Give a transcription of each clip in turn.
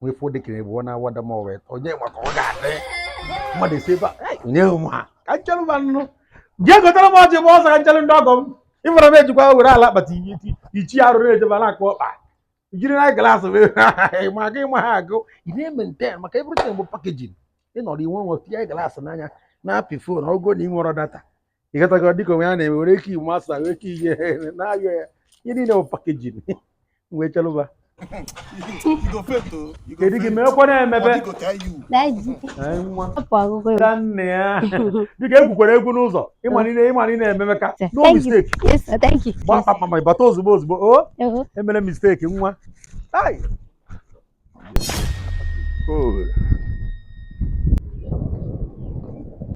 nwee fụ dịka ebe ọ na-awada m ọwa ịtọ onye maka ọ ga-adị mmadụ esi ebe a nye m ha ka nchelụ ma nnụ jee gotara m ọjị bụ ụzọ ka nchelụ ndị ọgọ m ị fụrụ m ejikwa were ala akpati iti ichi arụ na-ejeba na-akụ ọkpa jiri na glaasị wee ma gị ma ha agụ ị na-ementen maka everything bụ pakejin ị nọrọ inwe nwe tinye glaasị n'anya na-apị fon ogo na ị nwere data ị ghọtago dịka onwe ya na-eme were ike iwu masa were ike ihe na-ayọ ya ihe niile bụ pakejin wee chelụba kedu gị meekwa na-emebe ga nne ya dịka egwukwara egwu n'ụzọ ịmalite ịmalite na-ememe ka no mistake gbaa kpakpama ịbata ozugbo ozugbo o emere mistake nwa Holy.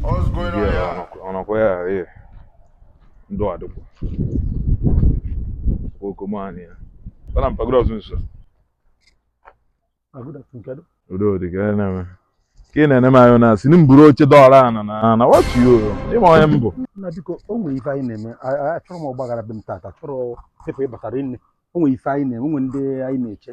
What's going on here? Ọnọkwa ya ee. Ndụ adịkwa. Okomani ya. Bana mpa good afternoon sir. Ah, good afternoon kedu? Udo dị ka ya na-eme. Ka ị na-ene m anya na-asị m buru oche dọọ n'ana na na watu yo. Ị ma onye m bụ. Na biko o nwere ife anyị na-eme. Achọrọ m ọgbaghara be m tata. Achọrọ ife ị batara nne. O nwere ife anyị na-eme. O nwere ndị anyị na-eche.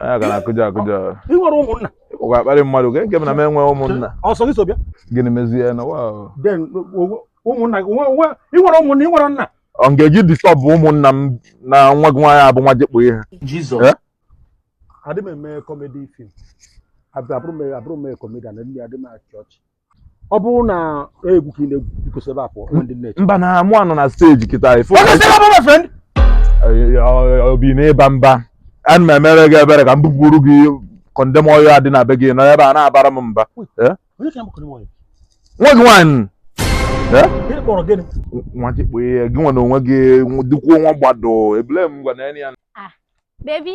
anya ga na-akụja akụja ị nwere ụmụnna ụgwọ akparị mmadụ nke nke m na m enwe ụmụnna ọsọ gị so bịa gịnị mezie na wa then o- ụmụnna gị nwe- nwe- ị nwere ụmụnna ị nwere nna ọ ga-eji distọb ụmụnna m na nwa gị nwaanyị abụ nwa e ji kpọ ihe Jizọs. Eh? adị m eme kọmedi fim abụrụ m abụrụ m kọmedian ndị adị m achị ọchị ọ bụrụ na egwu ka ị na-egwu biko si ebe a pụ nwa ndị nne mba na mụ anọ na steji kịta ifo Ọ na-ese ebe my friend. obi na ịba mba ana m emere gị ebere ka m bupụrụ gị kọndem ọyịl a dị na be gị nọ ebe a na-abara m mba Eh? Onye ka m kụrụ nwanyị? nwa gị nwaanyị Eh? Gịnị kpọrọ gịnị? nwa gị kpee ya gị nwa na onwe gị dịkwuo nwa gbado ebule m gwa na ya Baby,